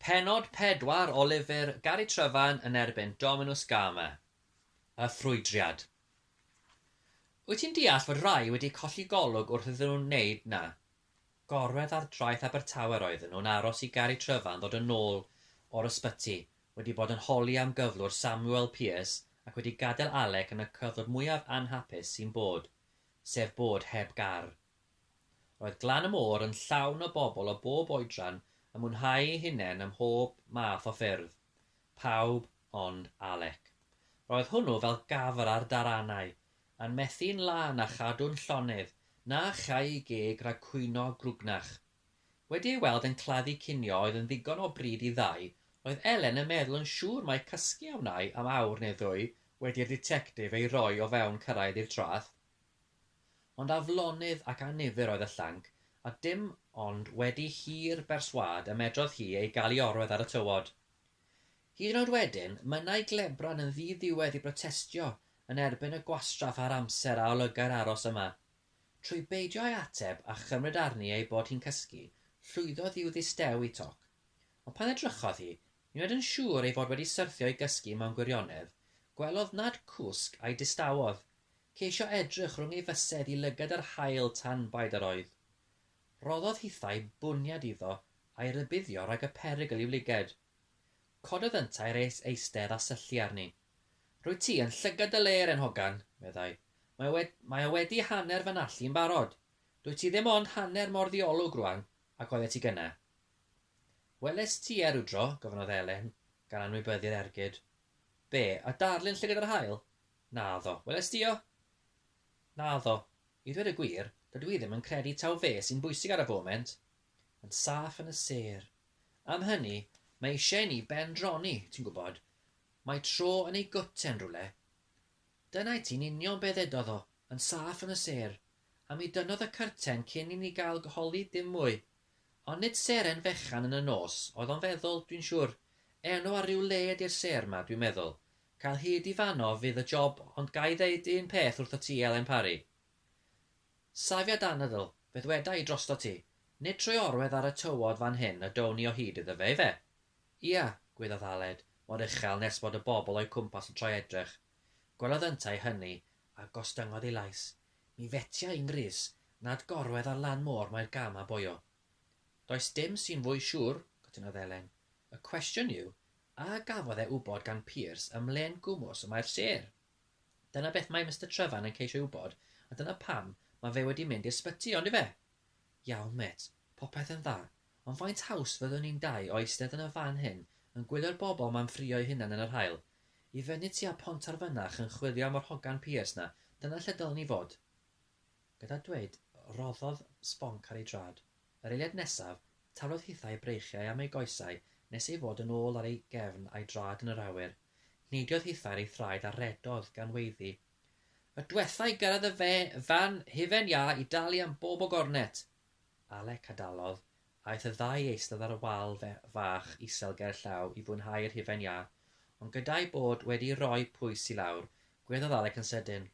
Pennod 4 o lyfr Gari Tryfan yn erbyn Dominws Gama, Y Ffrwydriad. Wyt ti'n deall fod rhai wedi colli golwg wrth iddyn nhw wneud 'na? Gorwedd ar draeth Abertawe'r oedden nhw'n aros i Gari Tryfan ddod yn ôl o'r ysbyty, wedi bod yn holi am gyflwr Samuel Pearce ac wedi gadael Alec yn y cyflwr mwyaf anhapus sy'n bod, sef bod heb gar. Roedd Glan y Môr yn llawn o bobl o bob oedran yn mwynhau eu hunain ym mhob math o ffyrdd. Pawb ond Alec. Roedd hwnnw fel gafr ar daranau, yn methu'n lân a chadw'n llonydd na allai ei geg rhag cwyno grwgnach. Wedi ei weld yn claddu cinio oedd yn ddigon o bryd i ddau, roedd Elen yn meddwl yn siŵr mai cysgu a wnai am awr neu ddwy wedi'r ditectif ei roi o fewn cyrraedd i'r traeth. Ond aflonydd ac annifyr oedd y llanc, a dim ond wedi hir berswâd y medrodd hi ei gael i orwedd ar y tywod. Hyd yn oed wedyn, mynnai Glebran yn ddi-ddiwedd i brotestio yn erbyn y gwastraff a'r amser a olygai'r aros yma. Trwy beidio â'i ateb a chymryd arni ei bod hi'n cysgu, llwyddodd i'w ddistew i toc. Ond pan edrychodd hi, nid yn oed yn siŵr ei fod wedi syrthio i gysgu mewn gwirionedd, gwelodd nad cwsg a'i distawodd, Ceisio edrych rhwng ei fysedd i lygad yr haul tan baid yr oedd. Rhoddodd hithau bwniad iddo a'i rybuddio rhag y perygl i'w lyged. Cododd yntau res eistedd a syllu arni. Rwyt ti yn llygad dy le, 'ren hogan, meddai. Mae o, mae o wedi hanner fy nallu i'n barod. Dwyt ti ddim ond hanner mor ddiolwg rwan ac oeddet ti gynna'. Welest ti e rywdro? gofynnodd Elen, gan anwybyddu'r ergyd. Be', y darlun llygad yr haul? Naddo. Welais di o? Naddo. I ddweud y gwir, dydw i ddim yn credu taw fe sy'n bwysig ar y foment. Yn saff yn y sêr. Am hynny, mae eisiau i ni ben-droni, ti'n gwybod. Mae tro yn ei goten rywle. Dyna i ti'n union be ddedodd o, yn saff yn y sêr. A mi dynnodd y cyrten cyn i ni gael holi dim mwy. Ond nid seren fechan yn y nos oedd o'n feddwl, dwi'n siŵr. Enw ar ryw le ydi'r sêr 'ma, dwi'n meddwl. Cael hyd i fano fydd y job ond ga i ddeud un peth wrthot ti Elen Parry. Safiad anadl, fe ddweda i drostot ti, nid trwy orwedd ar y tywod fan hyn y down ni o hyd iddo fe, ife? Ia, gwyddaf Aled, mor uchel nes bod y bobl o'i cwmpas yn troi edrych. Gwelodd yntau hynny, a gostyngodd ei lais. Mi fetia i'n ngrys, nad gorwedd ar lan môr mae'r gam a boio. Does dim sy'n fwy siŵr, cytunodd Elen. Y cwestiwn yw, A gafodd e wybod gan Pearse ym mhlên gwmws y mae'r sêr? Dyna beth mae Mister Trevan yn ceisio ei wybod a dyna pam mae fe wedi mynd i'r sbyty, on'd yfe? Iawn, mêt, popeth yn dda, ond faint haws fyddwn ni'n dau o eistedd yn y fan hyn yn gwylio'r bobl 'ma'n ffrio'u hunan yn yr haul? I fyny tua Pontarfynach yn chwilio am yr hogan Pearse 'na, dyna lle dylen ni fod. Gyda dweud, rhoddodd sbonc ar ei drad. Yr eiliad nesaf, taflodd hithau breichiau am ei goesau nes ei fod yn ôl ar ei gefn a'i draed yn yr awyr. Neidiodd hithau ar ei thraed a rhedodd gan weiddi, Y dwetha i gyrraedd y fan hufen iâ i dalu am bob o gornet! Alec a dalodd, aeth y ddau i eistedd ar y wal fach isel ger llaw i fwynhau yr hufen iâ, ond gyda'u bod wedi rhoi pwys i lawr, gweddiodd Alec yn sydyn,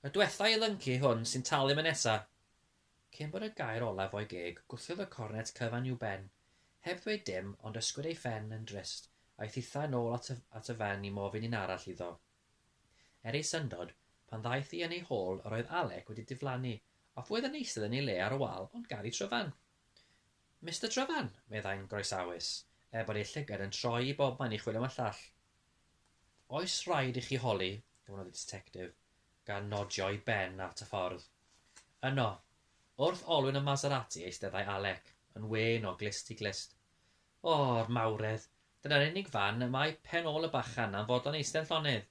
Y dwetha i lynci hwn sy'n talu am y nesa! Cyn bod y gair olaf o'i geg, gwthiodd y cornet cyfan i'w ben. Heb ddweud dim, ond ysgwyd ei phen yn drist, a'i thitha yn ôl at y, at y fan i mofyn un arall iddo. Er ei syndod, pan ddaeth hi yn ei hôl, yr oedd Alec wedi diflannu, a fu oedd yn eistedd yn ei le ar y wal, ond gar i Tryfan. Mister Tryfan! meddai'n groesawus, er bod ei llygad yn troi i bobman i chwilio am y llall. Oes rhaid i chi holi? gofynnodd y Ditectif. gan nodio'i ben at y ffordd. Yno, wrth olwyn y Maserati eisteddai Alec, yn wên o glust i glust. O, yr mawredd! Dyna'r unig fan y mae pen ôl y bachan am fod o'n eistedd llonydd.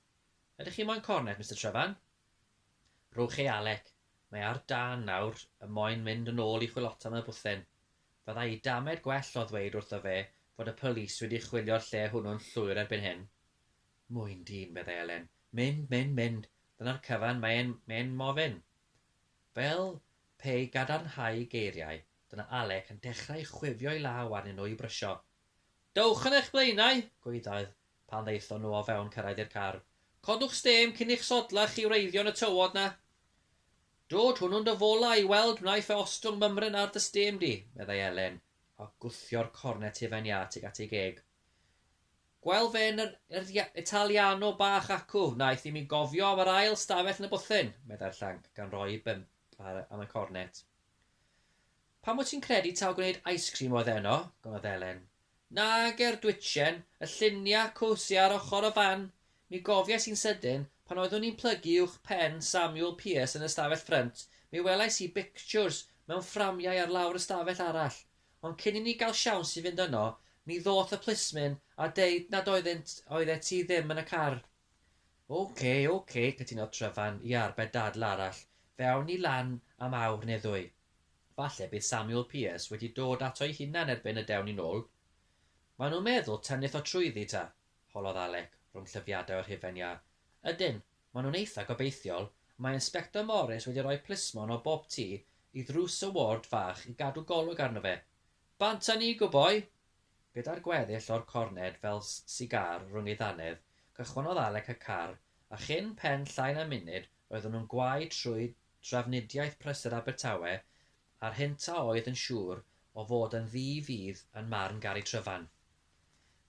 Ydych chi moyn cornet, Mister Trevan? Rhowch chi, Alec. Mae ar dân nawr y moyn mynd yn ôl i chwilota am y bwthyn. Fyddai i damed gwell o ddweud wrtho fe fod y polis wedi chwilio'r lle hwnnw'n llwyr erbyn hyn. Moyn dyn, meddai Elen. Mynd, mynd, mynd. Dyna'r cyfan, mae e'n, mae e'n mofyn. Fel pe i gadarnhau geiriau, dyna Alec yn dechrau chwifio'i law arnyn nhw i brysio. Dowch yn eich blaenau! gwaeddodd, pan ddaethon nhw o fewn cyrraedd i'r car. Codwch stêm cyn i'ch sodlau chi wreiddio yn y tywod 'na. Dod hwnnw'n dy fola i weld wnaiff e ostwng mymryn ar dy stêm di, meddai Elen, a gwthio'r cornet hufen iâ tuag at ei geg. Gwel fe yn yr Italiano bach acw, wnaeth i mi gofio am yr ail stafell yn y bwthyn, meddai'r llanc, gan roi ei bump ar am y cornet. Pam wyt ti'n credu taw gwneud ice cream oedd eno? gonodd Elen. Nag er dwitchen, y lluniau cowsy ar ochr y fan! Mi gofiais i'n sydyn, pan oeddwn i'n plygu uwch pen Samuel Pierce yn y stafell ffrynt, mi welais i bictiwrs mewn fframiau ar lawr y stafell arall. Ond cyn i ni gael siawns i fynd yno, mi ddoth y plismyn a deud nad oeddynt, oeddet ti ddim yn y car. OK, OK, cytunodd Tryfan i arbed dadl arall, fe awn ni lan am awr neu ddwy. Falle bydd Samuel Pearce wedi dod ato'i hunan erbyn y dewn ni nôl. Maen nhw'n meddwl tennydd o trwyddi, ta? holodd Alec, rhwng llyfiadau o'r hufen iâ. Ydyn, Maen nhw'n eitha' gobeithiol. Mae Inspector Morris wedi rhoi plismon o bob tu i ddrws y ward fach i gadw golwg arno fe. Bant â ni, good boy! Gyda'r gweddill o'r corned fel sigar rhwng ei ddannedd, cychwynnodd Alec y car, a chyn pen llai na munud roedden nhw'n gwau trwy drafnidiaeth prysur Abertawe a'r hynt a oedd yn siŵr o fod yn ddu fudd yn marn Gary Tryfan.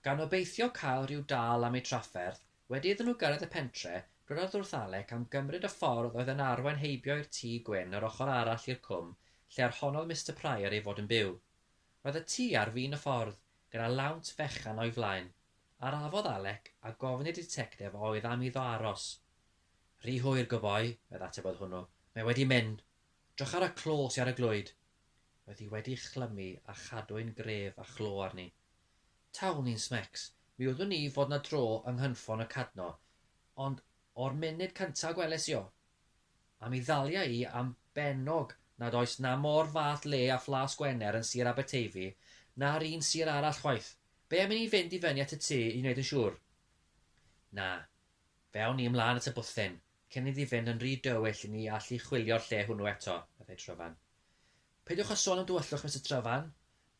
Gan obeithio cael rhyw dâl am eu trafferth, Wedi iddyn nhw gyrraedd y pentre, rhoddodd wrth-Alec am gymryd y ffordd oedd yn arwain heibio i'r tŷ gwyn yr ochr arall i'r cwm lle ar honnodd Mister Prior ei fod yn byw. Roedd y tŷ ar fin y ffordd, gyda lawnt fechan o'i flaen. Arafodd Alec, a gofyn i'r ditectef a oedd am iddo aros. Rhy hwyr, goboi, oedd ateb oedd hwnnw. Mae wedi mynd. Drycha ar y clo sy ar y glwyd. Roedd hi wedi chlymu a chadwyn gref a chlo arni. Tawn i'n smecs. Mi wyddwn i fod 'na dro yng nghynffon y Cadno, ond o'r munud cynta a gweles i o, a mi ddalia i am bennog nad oes 'na mo'r fath le â Phlas Gwener yn Sir Aberteifi, na'r un sir arall chwaith. Be' am i ni fynd i fyny at y tŷ i wneud yn siŵr? Na. Fe awn ni ymlân at y bwthyn, cyn iddi fynd yn rhy dywyll i ni allu chwilio'r lle hwnnw eto, meddai Tryfan. Peidiwch â sôn am dywyllwch, Mister Tryfan,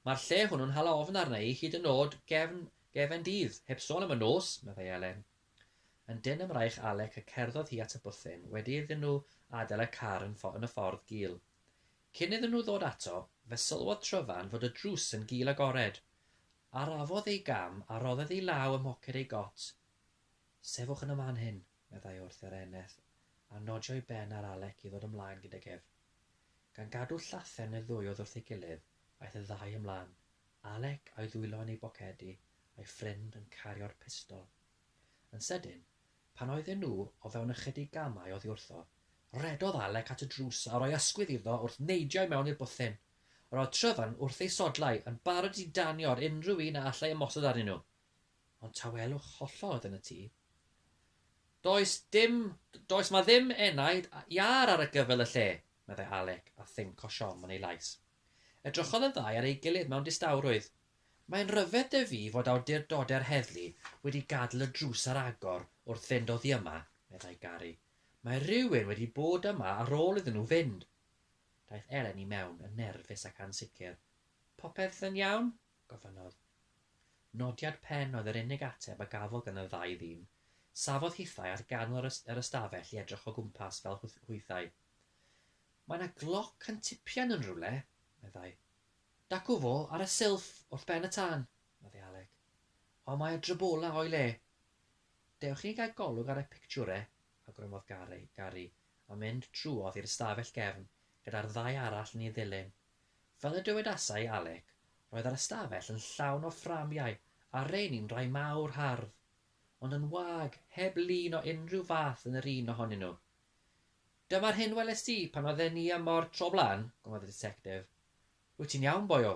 Mae'r lle hwnnw'n hala ofn arna i hyd yn o'd gefn gefen dydd, heb sôn am y nos, meddai Elen. Yn dynn ym mraich Alec y cerddodd hi at y bwthyn, wedi iddyn nhw adael y car yn y ffordd gul. Cyn iddyn nhw ddod ato, fe sylwodd Tryfan fod y drws yn gul agored. Arafodd ei gam a rhodded ei law ym mhoced ei got. Sefwch yn y man hyn, meddai wrth yr eneth a nodio'i ben ar Alec i ddod ymlaen gydag ef. Gan gadw llathen y ddwy oedd wrth ei gilydd, aeth y ddau ymlaen, Alec a'i ddwylo yn ei bocedi, a'i ffrind yn cario'r pistol. Yn sydyn, pan oedden nhw o fewn ychydig gamau oddi wrtho, rhedodd Alec at y drws a rhoi ysgwydd iddo wrth neidio i mewn i'r bwthyn. Roedd Tryfan wrth ei sodlau, yn barod i danio ar unrhyw un a allai ymosod arnyn nhw. Ond tawelwch hollol oedd yn y tŷ. Does dim, does ma ddim enaid iâr ar y gyfel y lle, meddai Alec a thing cosion yn ei lais. Edrychodd y ddau ar ei gilydd mewn distawrwydd. Mae'n ryfedd dy fi fod awdurdode'r heddlu wedi gadl y drws ar agor wrth fynd oddi yma, meddai Gary. Mae rhywun wedi bod yma ar ôl iddyn nhw fynd. Daeth Elen i mewn yn nerfus ac ansicr. Popeth yn iawn? gofynnodd. Nodiad pen oedd yr unig ateb a gafodd gan y ddau ddyn. Safodd hithau ar ganol yr yr ystafell i edrych o gwmpas fel hw- hwythau. Mae 'na gloc yn tipian yn rywle, meddai. Dacw fo ar y silff wrth ben y tân, meddai Alec. Ond mae y drybola o'i le. Dewch i ni gael golwg ar y pictiwre, awgrymodd Gary, Gary, a mynd trwodd i'r ystafell gefn gyda'r ddau arall yn ei ddilyn. Fel y dywedasai Alec, roedd yr ystafell yn llawn o fframiau a rheini'n rhai mawr hardd, ond yn wag, heb lun o unrhyw fath yn yr un ohonyn nhw. Dyma'r hyn welest ti pan oedden ni ym Mor tro blaen, gofynnodd y Ditectif. Wyt ti'n iawn, boio?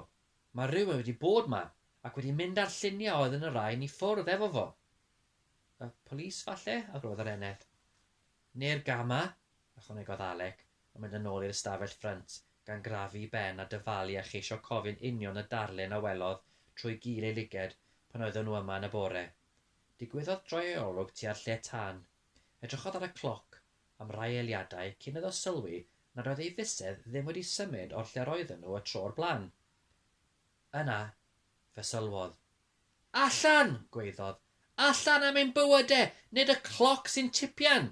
Mae rhywun wedi bod 'ma, ac wedi mynd â'r lluniau oedd yn y rain i ffwrdd efo fo. Y polis falle? argymhellodd yr eneth. Neu'r gama? ychwanegodd Alec, yn mynd yn ôl i'r ystafell ffrynt, gan grafu'i ben a dyfalu a cheisio cofio'n union y darlun a welodd trwy gil ei lyged pan oeddwn nhw yma yn y bore. Digwyddodd droi ei olwg tua'r lle tân. Edrychodd ar y cloc am rai eiliadau cyn iddo sylwi nad oedd ei fysedd ddim wedi symud o'r lle roedden nhw y tro o'r blaen. Yna, fe sylwodd. Allan! gwaeddodd. Allan am ein bywyde! Nid y cloc sy'n tipian!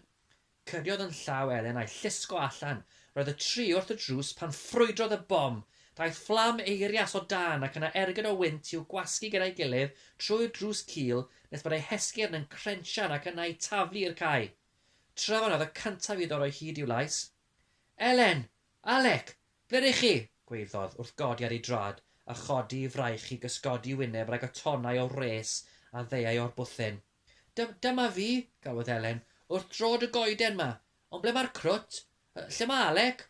Cyriodd yn llaw Elen a'i llusgo allan. Roedd y tri wrth y drws pan ffrwydrodd y bom. Daeth fflam eirias o dân ac yna ergyd o wynt i'w gwasgu gyda'i gilydd trwy'r drws cul nes bod eu hesgyrn yn crensian ac yna i taflu i'r cae. Tryfan oedd y cyntaf iddo roi hyd i'w lais. Elen! Alec! Ble rych chi? gwaeddodd, wrth godi ar ei drad, a chodi ei fraich i gysgodi wyneb rhag y tonnau o wres a ddeuai o'r bwthyn. Dym, dyma fi, galwodd Elen, wrth drod y goeden 'ma. Ond ble mae'r crwt? Yy, lle mae Alec?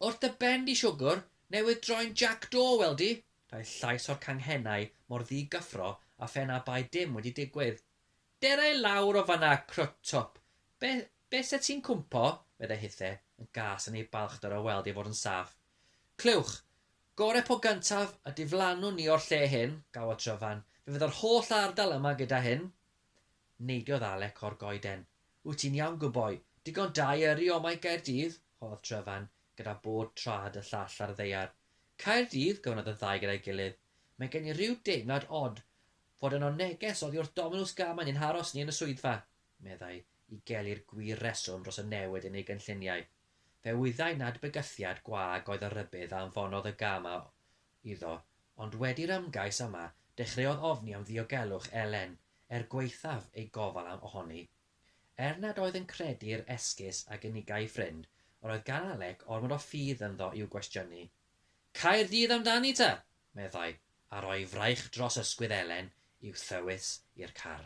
Wrth dy ben di, siwgwr, newydd droi'n Jac do, wel di! Daeth llais o'r canghennau mor ddi-gyffro a phen a bai dim wedi digwydd. Dera i lawr o fan'na, crwt twp. Be, be 'set ti'n cwmpo? meddai Hithe, yn gas yn ei balchder o weld ei fod yn saff. Clywch! Gore po gyntaf, a diflannwn ni o'r lle hyn, gawa Tryfan. Fe fydda'r holl ardal yma gyda hyn. Neidiodd Alec o'r goeden. Wyt ti'n iawn, good boy. Digon da i yrru o'ma i Gaerdydd, holodd Tryfan, gyda bod traed y llall ar y ddaear. Caerdydd? gofynnodd y ddau gyda'i gilydd. Mae gen i ryw deimlad od. Fod yno neges oddi wrth Dominws gan mae ni'n haros ni yn y swyddfa, meddai, i geli'r gwir reswm dros y newid yn ei gynlluniau. Fe wyddai nad bygythiad gwag oedd y rhybudd a anfonodd y gam a iddo, ond wedi'r ymgais yma, dechreuodd ofni am ddiogelwch Elen, er gwaethaf ei gofal am ohoni. Er nad oedd yn credu'r esgus a gynigai ei ffrind, yr oedd gan Alec ormod o ffydd ynddo i'w gwestiynu. Caerdydd amdani ta! meddai, a rhoi fraich dros ysgwydd Elen i'w thywys i'r car.